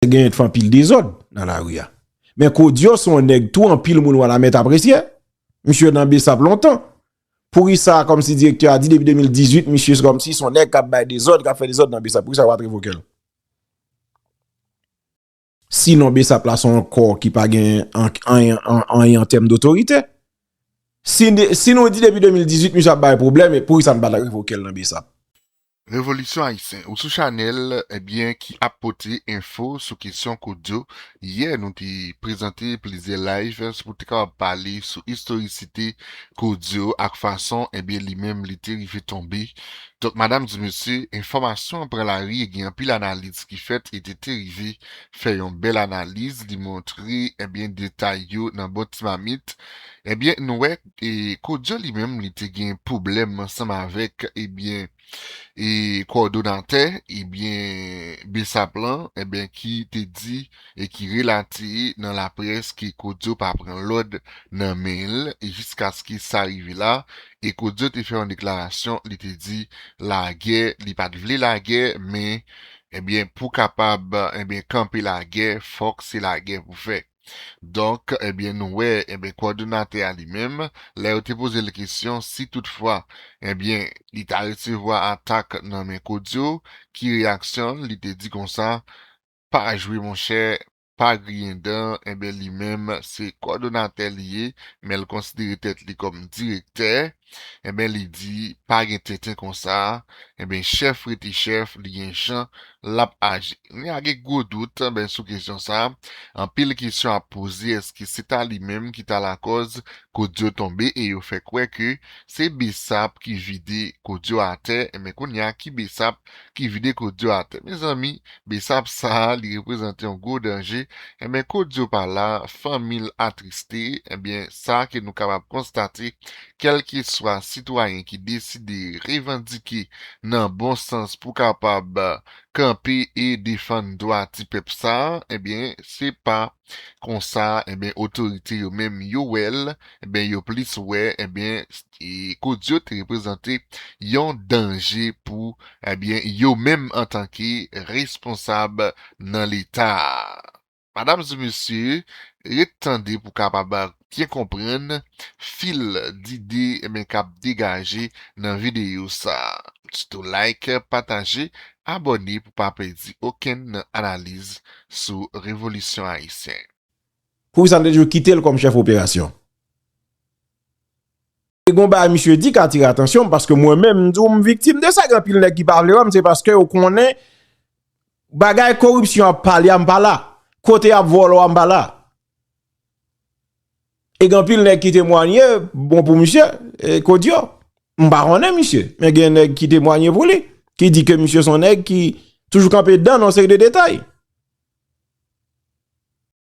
Te genyen t anpil dezòd nan lari a. Men Kodio son nèg tou anpil moun Wanament apresye. Misye nan Bsap lontan. Pourisa kòmsi direktè a di depi 2018 misye se kòmsi son nèg kap bay dezòd, kap fè dezòd nan Bsap. Pourisa yo pat revoke l? Si non Bsap la son kò ki pa gen anyen an tèm dotorite. Si nou di depi 2018 misye ap bay pwoblèm, pourisa nou pat revoke l nan Bsap? Revolisyon Ayisyen ou sou chanèl ebyen ki ap pote enfo sou kesyon Koudyo, yè nou te prezante plizyè live pou te kapab pale sou istorisite Koudyo ak fason ebyen li menm li te rive tonbe donk madam di mesye enfòmasyon an pran lari e gen anpil analiz ki fèt e te te rive fè yon bèl analiz li montre ebyen detay yo nan bon ti mamit ebyen nou wè E Kodio li menm li te gen pwoblèm ansanm avèk ebyen e kowòdonatè ebyen bsap lan ebyen ki te di e ki relate nan laprès ke Kodio pa pran lòd nan men l e jiskaske sa rive la e Kodio te fè yon deklarasyon li te di lagè li pa t vle lagè men ebyen pou kapab ebyen kanpe lagè fòk se lagè pou fè. Donk, ebyen nou wè, ebyen kòdonatè a li menm, lè yo te poze l kesyon si tout fwa, ebyen li ta resevwa atak nan men Kodio, ki reyaksyon l, li te di konsa, pa jwe monchè, pa griyen dan, ebyen li menm se kòdonatè li ye, men l konsidere tèt li kòm direktè, Enben li di pa gen tenten konsa enben chèf rete chèf li gen jan lap aji kounya a gen gwo dout enben sou kesyon sa anpil kesyon ap poze eske se ta li menm ki ta lakòz Codio tonbe e yo fè kwè ke se Bsap ki vide Codio atè enben kounya ki Bsap ki vide kodio atè mezanmi besap sa li reprezante yon gwo danje enben kodio pa la fanmil atriste enben sa ke nou kapab konstate kelkeswa sitwayen ki deside revandike nan bon sans pou kapab kanpe e defann dwa ti pèp sa enben se pa konsa enben otorite yo menm yo wè l enben yo plis wè enben kout yo te reprezante yon danje pou enben yo menm antanke responsab nan leta a. Madam e mesye ret tande pou kapab byen konprann fil dide men kap degaje nan videyo sa. Sitou like, pataje, abòne pou pa pèdi okenn nan analiz sou revolisyon ayisyen. Poukisa nou te toujou kitel kòm chèf operasyon? E gon bagay misye di k atire atansyon m paske mwen menm m di w m viktim de sa gen anpil nèg ki pa vle wè m se paske yo konnen bagay koripsyon ap pale a m pa la kote yap vòlò a m pa la E gen anpil nèg ki temwanye bon pou misye, Kodio. M pa konnen misye, men gen nèg ki temwanye pou li, ki di ke misye son nèg ki toujou kanpe dan nan seri de detay.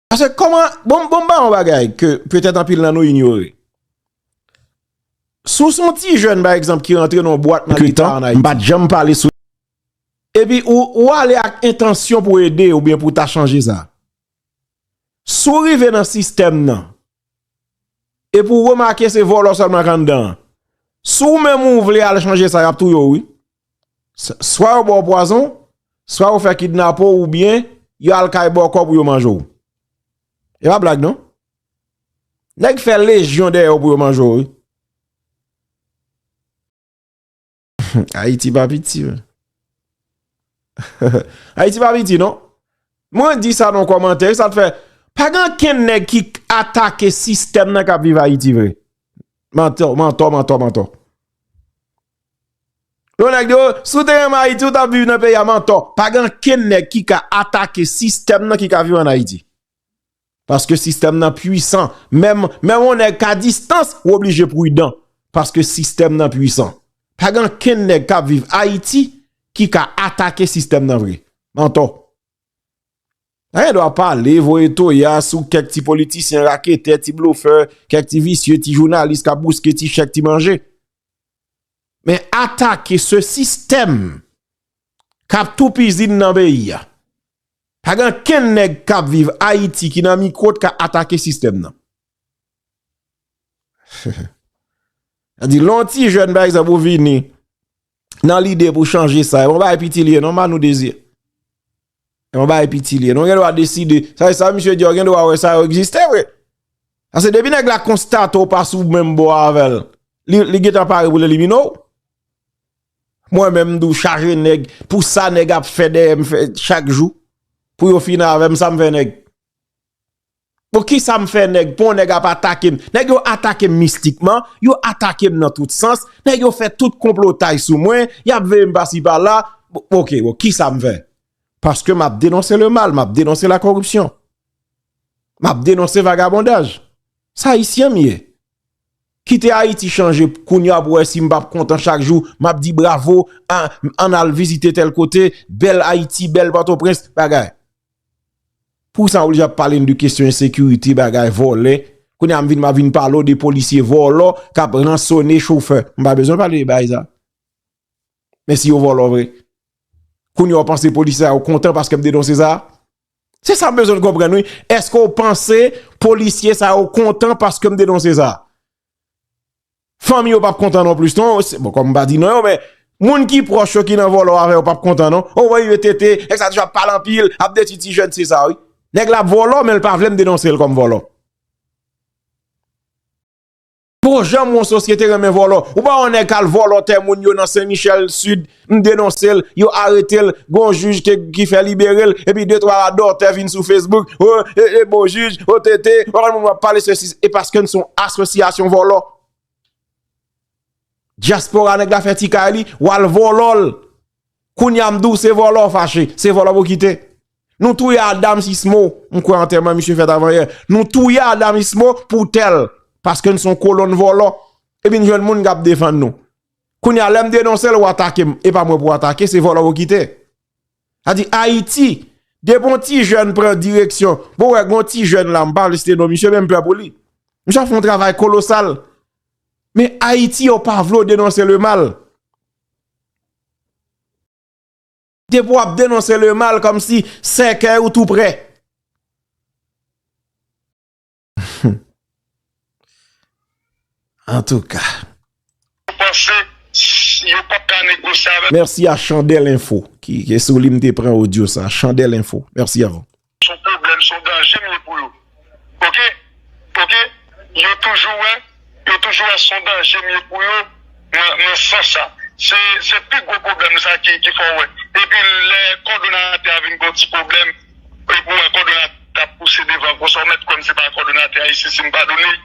Pase kòman, bon m ba yon bagay ke petèt anpil nan nou inyore. Si w son ti jèn pa egzanp ki rantre nan yon bwat nan leta an Ayiti. M pa t janm pale sou. Epi ou ale ak entansyon pou ede oubyen pou ta chanje sa. Si w rive nan sistèm nan, epi w remake se vòlò sèlman k anndan an, si w menm ou vle al chanje sa y ap touye w wi. Swa yo ba w pwazon, swa yo fè kidnape w oubyen yo al kay bòkò pou yo manje w. E pa blag non. Nèg fè lejyon dèyè w pou yo manje w wi. Ayiti pa piti men. Ayiti pa piti non. Mwen di sa nan komantè. Sa te fè. Pa gen ken nèk ki atake sistèm nan kap viv Ayiti vre. Mantò, mantò, mantò, mantò. Yon nèk diyo, sou te renmen Ayiti ou tap viv nan peyi a mantò. Pa gen ken nèk ki ka atake sistèm nan ki ka viv an Ayiti. Paske sistèm nan pwisan. Menm yon nèg ka distans, ou oblije prudan. Paske sistèm nan pwisan. Pa gen ankenn nèg k ap viv Ayiti ki ka atake sistèm nan vre. Mantò. Pa gen dwa pale, voye toya sou kèk ti politisyen raketè, ti blofè, kèk ti visye, ti jounalis k ap bouske ti chèk, ti manje. Men atake se sistèm kap toupizin nan peyi a. Pa gen ankenn nèg kap viv Ayiti ki nan mikwo t ka atake sistèm nan. Nan di lè yon ti jèn pa egzanp ou vini nan lide pou chanje sa, yon bagay piti li ye non Manou Désir. Yon bagay piti li ye non, ou gen dwa deside, sa se sa misye di a ou gen dwa wè sa yo egziste vre. Ase depi nèg la konstate ou pa sou menm bò avèl, li gentan pare pou l elimine w. Mwen menm m tou chaje nèg pou sa nèg ap fè dèyè m fè chak jou pou yo fini avè m sa m fè nèg pou ki sa m fè nèg pou yon nèg ap atake m nèg yo atake m mistikman yo atake m nan tout sans nèg yo fè tout konplotay sou mwen y ap veye m pa si pa la ok bon ki sa m fè paske m ap denonse le mal m ap denonse la koripsyon m ap denonse vagabondaj sa ayisyen m ye Kite Haïti chanje kounya wap wè sim pap kontan chak jou map di bravo ann al vizite tèl kote bèl Haïti bèl pòtoprens bagay pou sa oblije ap pale n de kesyon ensekirite bagay vòlè kounya m vin map vin pale w de polisye vòlò kap ransone chofè m pa bezwen pale de bagay sa men si yo vòlò vre kounya w panse polisye sa yo kontan paske m denonse sa Se sa m bezwen konprann wi, eske ou panse polisye sa yo kontan paske m denonse sa? Fanmi yo pap kontan non plis non, bon kòm m pa di non yo men, moun ki pwòch yo ki nan vòlò avè yo pap kontan non. O wè yon TT, nèg sa toujou ap pale anpil, ap detwi ti jèn, se sa wi. Nèg la ap vòlò men l pa vle m denonse l kòm vòlò. Bon jan moun sosyete renmen vòlò. Ou pa wè yon nèg k al vòlò tè moun yo nan Sen Michèl Sid, m denonse l, yo arete l, gen yon jij ki fè libere l, epi de twa radòtè vin sou fesbouk, o, e, e, bon jij, o, te, te, ou pa konn moun wap pale sesi, e paske n s on asosyasyon vòlò. Dyaspora nèg la fè ti kay li, w al vòlò l. Kounya m di w se vòlò w fache, se vòlò pou kite. Nou touye Adams Ismo, m kwè antèman misye fèt avanyè. Nou touye Adams Ismo pou tè l, paske n son kolonn vòlò. Epi n jwenn moun k ap defann nou. Kounya lè m denonse l w atake m, e pa mwen pou w atake, se vòlò pou kite. Sa di Ayiti, depi yon ti jèn pran direksyon, bon wè gen yon ti jèn la, m pa vle site non misye men m pè pou li. Misye ap fè yon travay kolosal. Men Ayiti yo pa vle w denonse le mal. Depi w ap denonse le mal komsi sèkèy ou tou prè. An tou ka. Yo panse yo pap ka negosye avèm. Mèsi a Chandèl Enfo. Ki sou li m te pran odyo sa. Chandèl Enfo. Mèsi avèw. Son pwoblèm son danje m ye pou yo ok ok yo toujou wè yo toujou wè son danje m ye pou yo nan sans sa se pi gwo pwoblèm sa ki fè w wè epi lè kòdonatè a vin gen yon ti pwoblèm epi w wè kòdonatè a ap pouse devan konsa w mèt kwè m se pa kòdonatè a isi si m padone l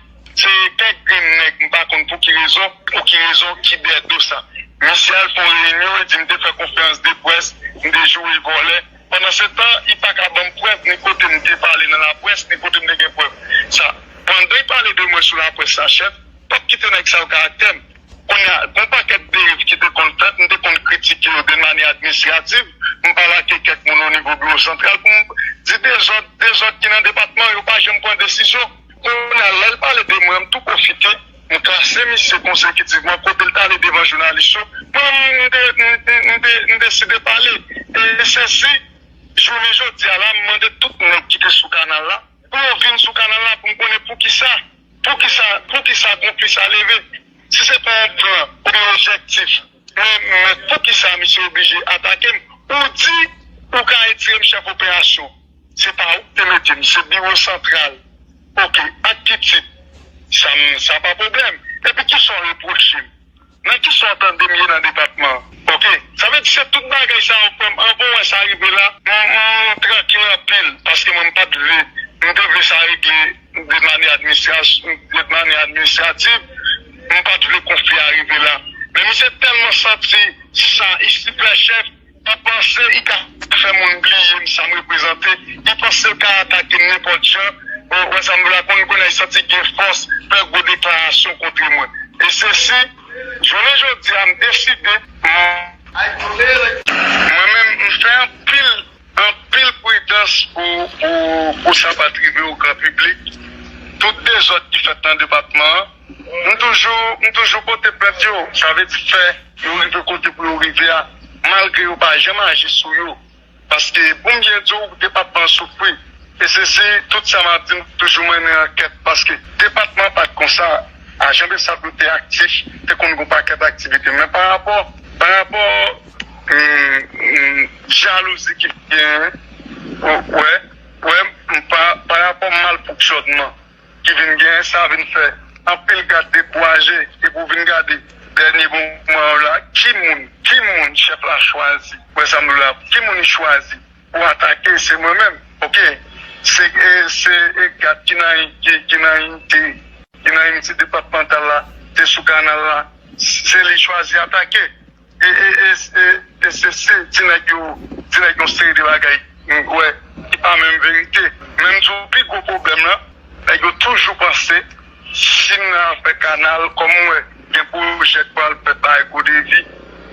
se kèk grenn nèg m pa konn pou ki rezon pou ki rezon ki dèyè do sa misye al fè yon reyinyon li di m te fè konfèranc de près m te joure vòlè. Pandan se tan, i pa ka ban m prèv ni kote m te pale nan laprès, ni kote m te gen prèv sa. Pandan i pale de mwen sou laprès sa, chèf, p ap kite nèg sa yo karaktè m. Kounye a, gon pakèt deriv ki te konn fèt, m te konn kritike yo de manyè administrativ, m pa lage kèk moun o nivo biwo santral pou m di dezòd, dezòd ki nan depatman, yo pa janm pran desizyon. Kounye a, lè l pale de mwen, m tou pwofite. M klase misye konsekitivman kote l t ale devan jounalis yo. M deside pale. E se si jounen jodi a la m mande tout nèg ki te sou kanal la pou yo vin sou kanal la pou m konnen poukisa. Poukisa konfli sa leve si se pa yon plan oubyen objektif. Mèt poukisa misye oblije atakem ou di ou ka retirem chèf operasyon se pa ou ki te metem se biwo santral ok ak ki tit sa pa pwoblèm epi kisa ou repwochem nan kisa ou tandem ye nan depatman ok sa vle di se tout bagay sa ou fèm anvan ou wè sa rive la m trankil anpil paske mwen m pat vle m te vle sa regle. De manyè administrativ, nou pa t vle konfli a rive la. Men misye tèlman santi sa i sipè chèf, i panse i ka fè moun bliye m sa m reprezante, i panse l ka atake m nenpòt jan, ou wè sa m vle la, konn kounye a i santi gen fòs fè gwo deklarasyon kontre mwen. E se si, jounen jodi a m deside. Mwen menm m fè anpil Anpil pridans pou sa pa t rive o gran piblik. Tout dezòd ki fèt nan depatman an, m toujou pote plent yo. Sa vle di fè yo rive kote pou yo rive a malgre yo pa janm aji sou yo. Paske pou m byen di w depatman an soufri. E se si tout sa m ap di m toujou mennen ankèt paske depatman an pa t konsa a. Jan Bsap nou te aktif te konn gen yon pakèt aktivite men parapò Jalouzi ki genyen wè parapò malfonksyònman ki vin genyen sa vin fè anpil gad dekouraje epi w vin gade dènye moman yo la ki moun ki moun chèf la chwazi wè sa m di w la ki moun li chwazi pou atake se mwen menm ok se gad ki nan inite ki nan inite depatmantal la te sou kanal la se li chwazi atake. E se sim di nèg yo di nèg yon seri de bagay m kwè ki pa menm verite. Men m di w pi gwo pwoblèm lan nèg yo toujou panse sim nan ap fè kanal kòm m wè gen pwojè k pral fèt bay Godevi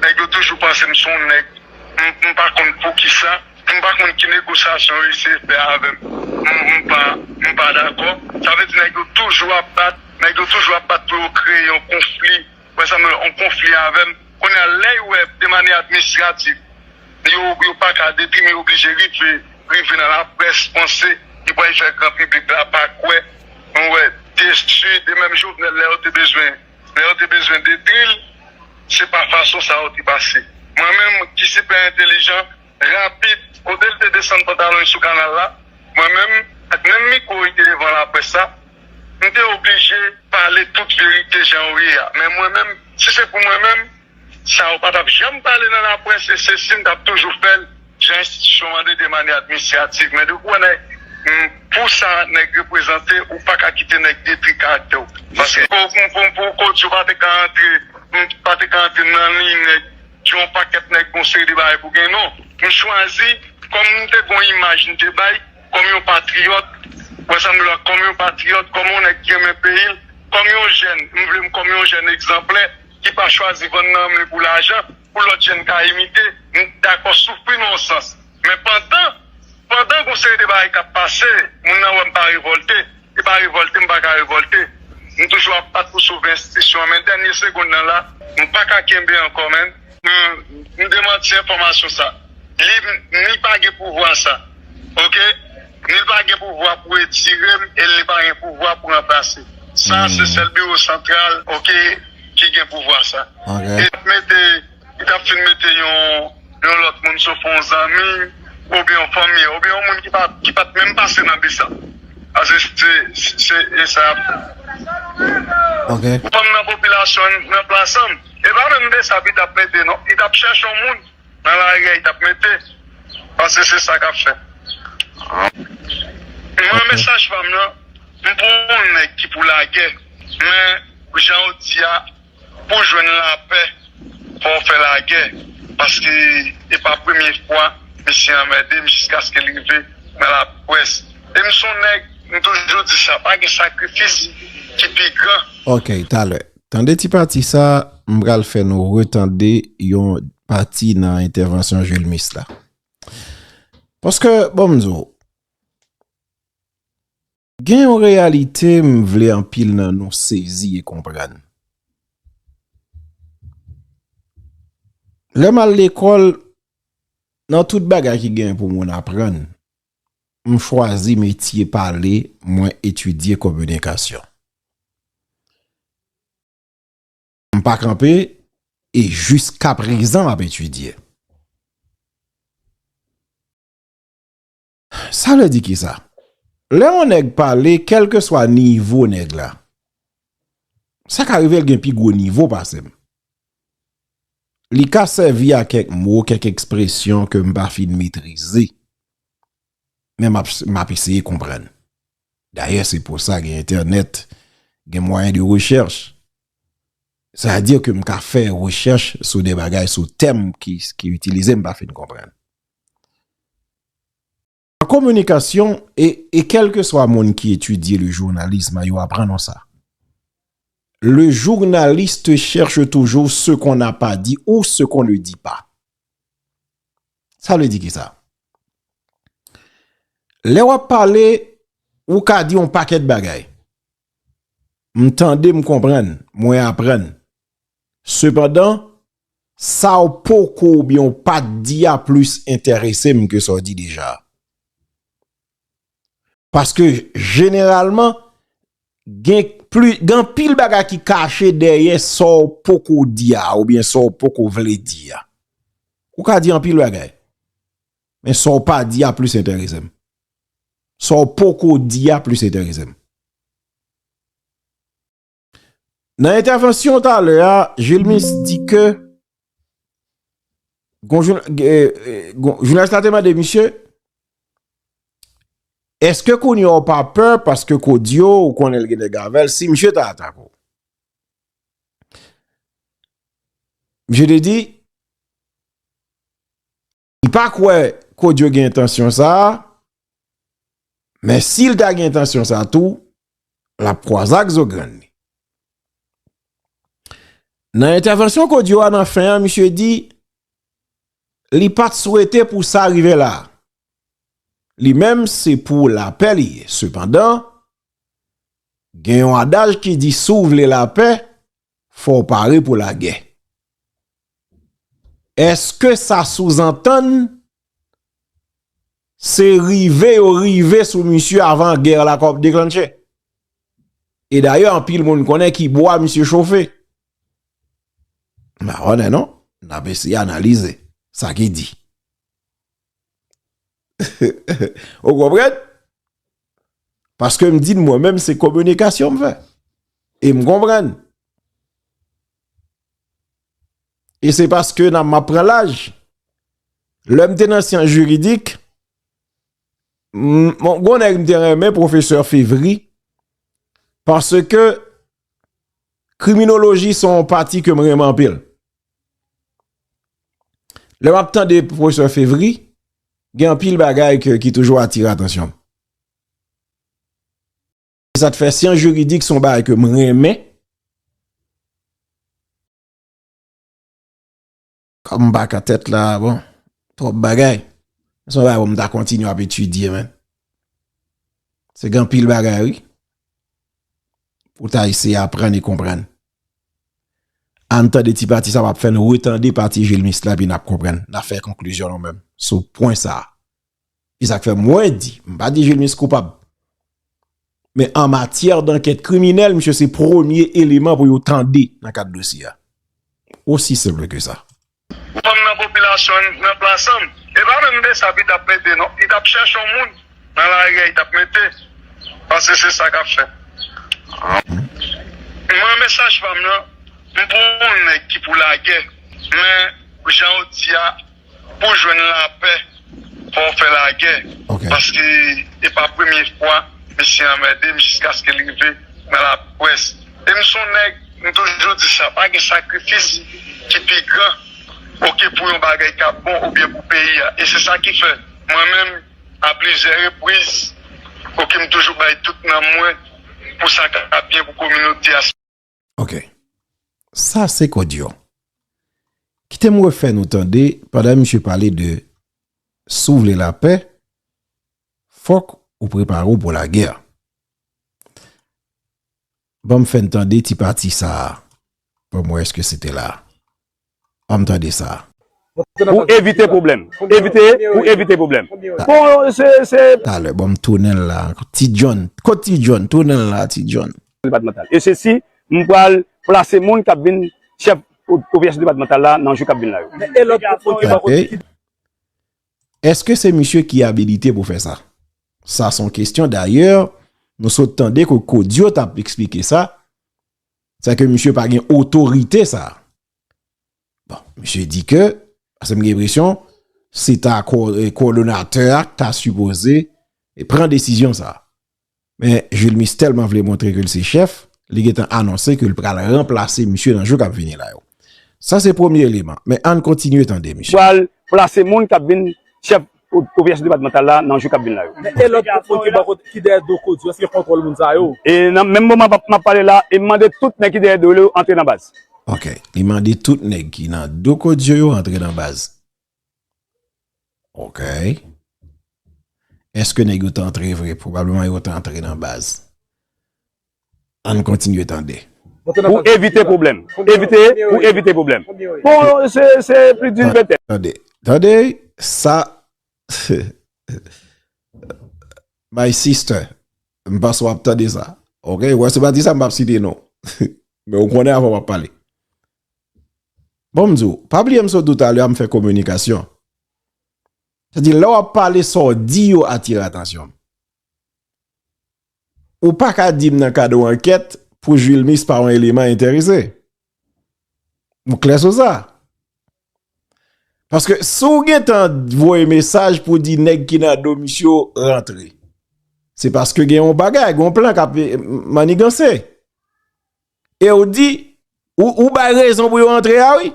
nèg yo toujou panse m son w nèg m pa konn poukisa m pa konn ki negosyasyon yo eseye fè avè m m pa m pa dakò sa vle di nèg yo toujou ap bat nèg yo toujou ap bat pou yo kreye yon konfli. Frè Samuel an konfli avèm kounya lèy wè demane administratif yo yo paka depi mi oblije rive rive nan la près panse li pwal fè gran piblik la pa kwè nou wè destri de menm jovenel lè yo te bezwen lè yo te bezwen detril se pa fason sa yo te pase mwen menm ki sipè entelijan rapid kotel te desann pantalonl sou kanal la mwen menm ak menm mikwo li te devan la près la. M te oblije pale tout verite jan yo ye a. Men mwen menm, si se pou mwen menm, sa yo pa t ap janm pale nan laprès e se si m t ap toujou fè l jan enstitisyon mande demane admisiyativ. Men depi w wè nèg, pou sa nèg reprezante, ou pa ka kite nèg detri karaktè w. Paske pou w koz yo pa te ka antre, m pa te ka antre nan liy nèg ki yon pakèt nèg, yon seri de bagay pou gen non. M chwazi, kòm m te gen yon imaj m te bay, kòm yon patriyòt, mwen sanble wè kòm yon patriyòt, kòm yon nèg ki renmen peyi l, kòm yon jèn, m vle m kòm yon jèn egzanplè ki pa chwazi vann nanm li pou lajan, pou lòt jèn ka imite, m dakò soufri nan yon sans. Men pandan, pandan gon seri de bagay k ap pase, moun nan wè m pa revòlte. Se pa revolte m pa ka revolte. M toujou ap bat pou sove enstitisyon an men dènye segonn nan la m pa ka kenbe ankò menn. M demanti enfòmasyon sa. Li ni pa gen pouvwa sa. Ok. Ni l pa gen pouvwa pou retire m e l ni pa gen pouvwa pou ranplase. Sa se sèl biwo santral ok ki gen pouvwa sa. Ok. Li tap fin mete yon lòt moun sof yon zanmi oubyen yon fanmi an oubyen yon moun ki pat menm pase nan bis la. Pase se e sa yap fè. Fanm nan popilasyon an nan plasan e pa menm besap li tap mete non. Li tap chèche yon moun nan lari a li tap mete pase se sa kap fè. Mwen mesaj pam nan m pou yon nèg ki pou lagè men jan ou di a. Pou jwenn lapè fò w fè lagè paske e pa premye fwa misye anmède m jiskaske l rive nan laprès e m son nèg m toujou di sa pa gen sakrifis ki pi gran. Ok talè. Tande ti pati sa m pral fè nou retande yon pati nan entèvansyon Julmis la. Paske bon m di w. Gen yon reyalite m vle anpil nan nou sezi e konprann. Lè m al lekòl, nan tout bagay ki gen pou moun aprann, m chwazi metye pale mwen etidye kominikasyon. M pa kanpe e jiska prezan m ap etidye. Sa vle di kisa? Lè yon nèg pale kelke swa nivo nèg la. Sa ka rive l gen pi gwo nivo pase m. Li ka sèvi a kèk mo, kèk ekspresyon ke m pa fin metrize. Men m ap eseye konprann. Dayè se pou sa gen entènèt, gen mwayen de rechèch. Sa vle di ke m ka fè rechèch sou de bagay sou tèm ki itilize m pa fin konprann. An kominikasyon, e, e kèlkeswa moun ki etidye le journalisme yo aprann nou sa, le journaliste cherche toujours ce qu'on n'a pas dit ou ce qu'on ne dit pas. Sa vle di kisa? Lè w ap pale, ou ka di yon pakèt bagay. M tande, m konprann, mwen aprann. Sepandan, sa w poko oubyen w pa t di a plis enterese m ke sa w di deja a. Paske jeneralman, gen anpil bagay ki kache dèyè sa w poko di a oubyen sa w poko vle di a. Ou ka di anpil bagay, men sa w pa di a plis enterese m. Sa w poko di a plis enterese m. Nan entèvansyon talè a, Julmis di ke jounalist la te mande misye eske kounye ou pa pè paske kodio ou konnen l gen nèg avè l si misye ta atake ou. Misye te di M pa kwè Codio gen entansyon sa a, men si l ta gen entansyon sa a tou, l ap kwaze ak zo grenn li. Nan entèvansyon Codio a nan fen an, misye di, li pa t swete pou sa rive la. Li menm se pou lapè li ye. Sepandan, gen yon adaj ki di si w vle lapè, fò w pare pou lagè. Eske sa souzantann se rive yo rive sou misye avan gè la kòp deklanche? E dayè anpil moun konnen ki bwa misye chofe. Mawonè non, n ap eseye analize sa ki di. Ou konpren? Paske m di mwen menm se kominikasyon m fè. E m konpren. E se paske nan m ap pran laj. Lè m te nan siyans jiridik, m konnen m te renmen pwofesè fevri. Paske kriminoloji son pati ke m renmen anpil. Lè map tande professor Fevry, gen anpil bagay ke ki toujou atire atansyon. Se sa k fè syans jiridik son bagay ke m renmen. Kòm m pa ka tèt la, bon, twòp bagay. Se yon bagay pou m ta kontinye ap etidye men. Se gen anpil bagay wi, pou ta eseye aprann e konprann. Ann tande ti pati sa map fè nou retande pati Julmis la epi nap konprann, nap fè konklizyon nou menm sou pwen sa. Se sak fè mwen di, m pa di Julmis koupab. Men an matyè dankèt kriminèl misye se premye eleman pou yo tande nan kad dosye a. Osi senp ke sa. Fanm nan popilasyon n nan plasanm. E pa menm besap li tap mete non li tap chèche yon moun nan lari a li tap mete paske se sa kap fèt mwen men saj fam nan m pou yon nèg ki pou lagè men janw di a pou jwenn lapè. Fò w fè lagè. Paske e pa premye fwa misye anmède m jiskaske l rive nan laprès. E m son nèg, m toujou di sa, pa gen sakrifis ki pi gran oke pou yon bagay k ap bon oubyen pou peyi a. E se sa ki fè mwen menm a plizyè repriz oke m toujou bay tout nanm mwen pou sa k ap byen pou kominote a. Ok. Sa se kodyon. Kite m refè nou tande pandan misye pale de si w vle lapè, fòk ou prepare w pou lagè. Ban m fè n tande ti pati sa a. Ban m wè èske se te la a. anm tande sa. Pou evite pwoblèm. Evite pou evite pwoblèm. Bon se se. Talè bon m tounen l la anko. Ti John. Kot ti John? Tounen l la ti John. Depatmantal. E se si m pral plase moun k ap vin chèf operasyon depatmantal la nan jou k ap vin la yo. Men e lòt moun ki bò kote. Eske se misye ki abilite pou fè sa? Sa s on kesyon dayè nou sot tande ke Codio t ap esplike sa. Sa ke misye pa gen otorite sa. Bon, misye di ke, ase m gen presyon, se ta kowodonatè a k ta sipoze e pran desisyon sa. Men, Julmis telman vle montre ke l se chèf, li gen tan anonse ke l pral ranplase misye nan jou k ap vini la yo. Sa se premye eleman, men ann kontinye tande misye. Pral plase moun k ap vin chèf operasyon depatmantal la nan jou k ap vin la yo. Men e lòt gwoup moun ki bò kote, ki dèyè do CODU, èske yo kontwòl moun sa yo? E nan menm moman m ap pale la, e mande tout nèg ki dèyè do yo antre nan baz. Ok, li mande tout nèg ki nan do CODU yo antre nan baz. Ok. Èske nèg yo t antre vre? Pwobableman yo t antre nan baz. Ann kontinye tande. Pou evite pwoblèm. Evite pou evite pwoblèm. Bon, se plis di ventèn. Tande. Tande sa. My sister, m panse w ap tande sa. Ok, wè se pa di sa m pap site non. Men ou konnen avan m ap pale. Bon m di w, pa bliye m sot di w talè a m fè kominikasyon. Sa di lè w ap pale sa w di yo atire atansyon m. Ou pa ka di m nan kad yon ankèt pou Juilmix pa yon eleman enterese. M klè sou sa. Paske si w gen tan voye mesaj pou di nèg ki nan do misye yo rantre. Se paske gen yon bagay, gen yon plan k ap maniganse. E w di, ou bay rezon pou yo rantre a wi.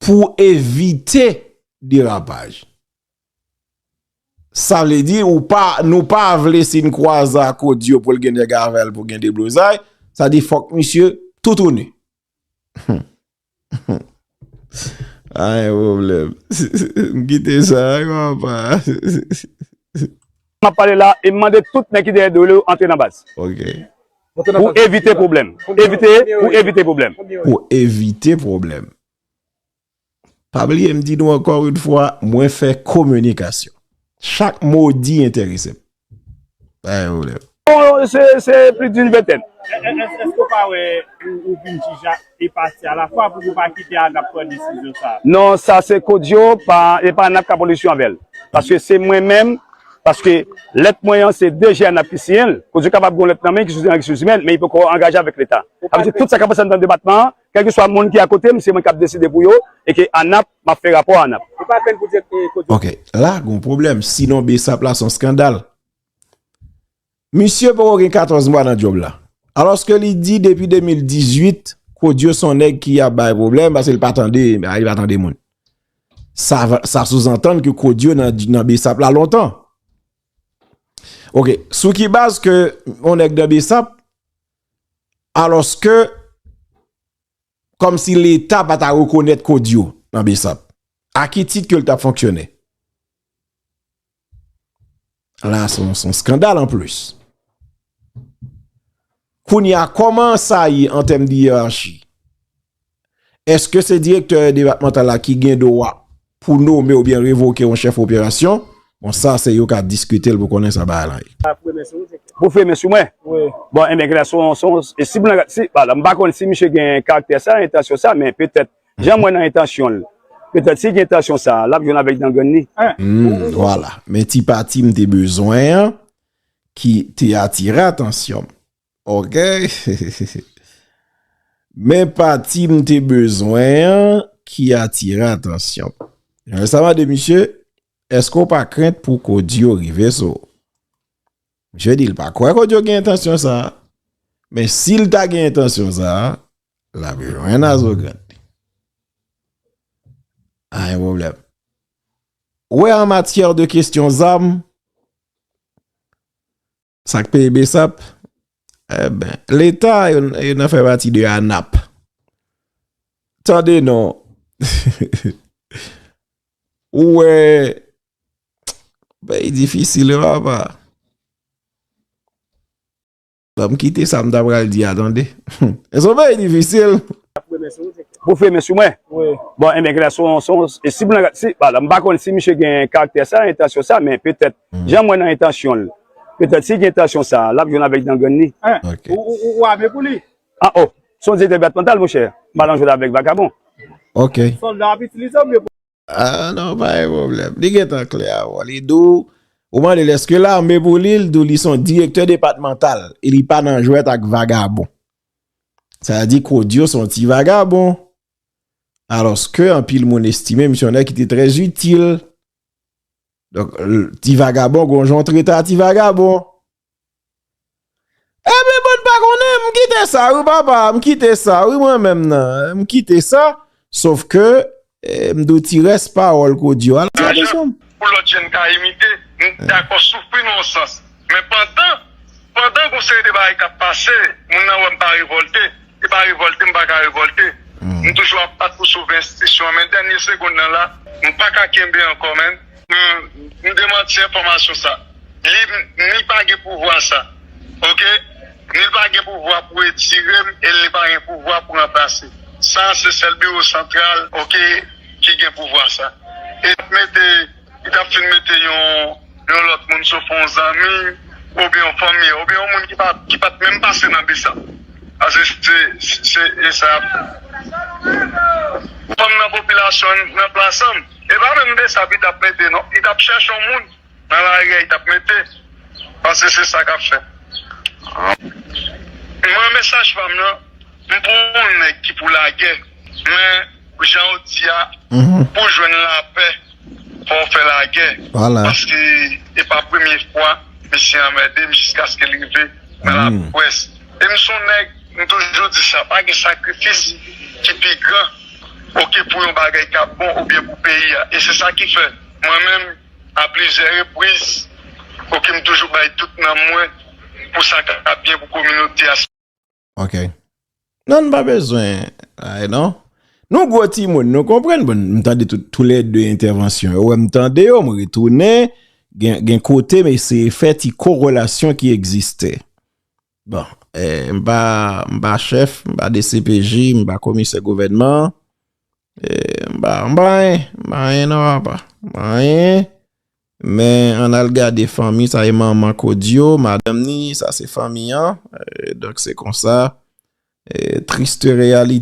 Pou evite derapaj. Sa vle di ou pa, nou pa vle si n kwaze ak Odio pou l gen nèg avè l pou gen deblozay, sa di fòk misye toutouni. Pa gen pwoblèm. M kite sa wi papa. M ap pale la e m mande tout nèg ki dèyè do yo antre nan baz. Ok. Pou evite pwoblèm. Evite, pou evite pwoblèm. Pou evite pwoblèm. Pa bliye m di nou ankò yon fwa, mwen fè kominikasyon. Chak mo w di enterese m. Pa gen pwoblèm. Bon, se plis d'une vingtaine. Èske w pa wè ou vin jij a e pati a la fwa pou nou pa kite ANAP pran desizyon sa a? Non, sa se kont yo, e pa ANAP k ap olisyon avè l. Paske se mwen menm, paske lèt mwen an se DG ANAP ki siyen l. Kont yo kapab gen yon lèt nan men ki soti nan Resous Imèn, men li poko angaje avèk Leta. Sa vle di tout sa k ap pase anndan depatman an, Kèlkeswa moun ki akotem se mwen kap deside pou yo e ke anap map fè rapò anap. Ou pa fèn pou di e kodio. Ok la gon pwoblèm si non besap la son skandal misye poko gen 14 mwa nan djob la alòske li di depi 2018 kodio son nèg ki ap bay pwoblèm paske li pa tande a li pa tande moun sa souzantann ke kodio nan besap la lontan ok sou ki baz ke yon nèg nan besap Alòske, kòm si leta pa ta rekonèt Kodio nan Besap. A ki tit ke l ta fonksyone? La a son son skandal an plis. Kounye a, kòman sa ye an tèm de yerachi? Eske se direktè depatmantal la ki gen dwa pou nome oubyen revoke yon chèf operasyon? Bon sa se yo ka diskite l pou konnen sa bagay lan ye. Pou fè men sou mwen? Wi. Bon enben gade se yon, se yon, si pou nan, si, bon m pa konnen si misye gen karaktè sa, entansyon sa men petèt jan m wè nan entansyon l, petèt si gen entansyon sa, l ap jwenn avèk dan grenn li. Hum, vwala. Men ti pati m te bezwen an ki te atire atansyon m. Ok Men pati m te bezwen an ki atire atansyon m. Emen sa mande misye Eske w pa krent pou Codio rive sou w? Misye di l pa kwè Codio gen entansyon sa a. Men si l ta gen entansyon sa a, l ap jwenn a zo grèt li. Anyen pwoblèm. Ou wè an matyè de kesyon zam, Sak peye besap? Eh ben, leta yo nan fè pati de anap. Tande non. Ou wè, bay difícil yo apa. Banm kite sa m ta pral di a tande. Eson bay difícil. Pou fremen sou mwen? Wi. Bon, enben, gade, son, son, si pou nan, si, pa la, m pa konnen si misye gen karaktè sa, entansyon sa, men petèt, jan m wè nan entansyon l, petèt si gen entansyon sa, l ap jwenn avèk dan grenn li. Hein? Ok. Ou, ou, ou ame pou li? Ah oh! Son direktè depatmantal, monchè. M pa nan jwèt avèk vakabon. Ok. Sòlda ap itilize w oubyen Ahh non pa gen pwoblèm. Li gentan klè avèw. Li di w, ou mande l eske l ame pou li, li di w li son direktè depatmantal e li pa nan jwèt ak vagabon. Sa vle di Kodio son ti vagabon. Alòs ke anpil moun estime misye yon nèg ki te trè itil. Donk ti vagabon gon jan w trete a ti vagabon. Ebyen bann pa konnen m kite sa wi papa m kite sa wi mwen menm nan m kite sa sof ke m di w ti rès pawòl Codio a. Ajan pou lòt jèn ka imite m dakò soufri nan yon sans men pandan pandan gon seri de bagay k ap pase moun nan wè m pa revòlte. Se pa revolte m pa ka revolte m toujou ap bat pou sove enstitisyon an men dènye segonn nan la m pa ka kenbe ankò menn. M demanti enfòmasyon sa. Li ni pa gen pouvwa sa. Ok. Ni l pa gen pouvwa pou retire m e li pa gen pouvwa pou ranplase. Sa se sèl biwo santral ok ki gen pouvwa sa. E mete. Li tap fin mete yon lòt moun sof yon zanmi oubyen yon fanmi an oubyen yon moun ki pat menm pase nan bsap pase se esa yap fè fanm nan popilasyon nan plasan e pa menm bsap li tap mete non li tap chèche yon moun nan lari a li tap mete pase se sa kap fè mwen mesaj pam nan m pou yon nèg ki pou lagè mwen jan ou di a pou jwenn lapè. Fòw fè lagè paske e pa premye fwa misye anmèdem jiskaske li rive nan lapwès e m son nèg m toujou di sa pa gen sakrifis ki pi gran oke pou yon bagay ka bon oubyen pou peyi a e se sa ki fè mwen menm a plizyè repriz oke m toujou bay tout nanm mwen pou sa ka byen pou kominote a. Ok. Nan pa bezwen ay non. Nou gwo ti moun nou konprenn bon m tande tou lè de entèvansyon yo wè m tande yo m retounen gen kote m eseye fè ti korelasyon ki egziste. Bon, m pa chèf, m pa dcpj, m pa komisè gouvènman, m pa anyen, m pa anyen nan apa, m pa anyen. Men an al gade fanmi sa e manman kodio madanm ni sa se fanmi an donk se konsa triste realite.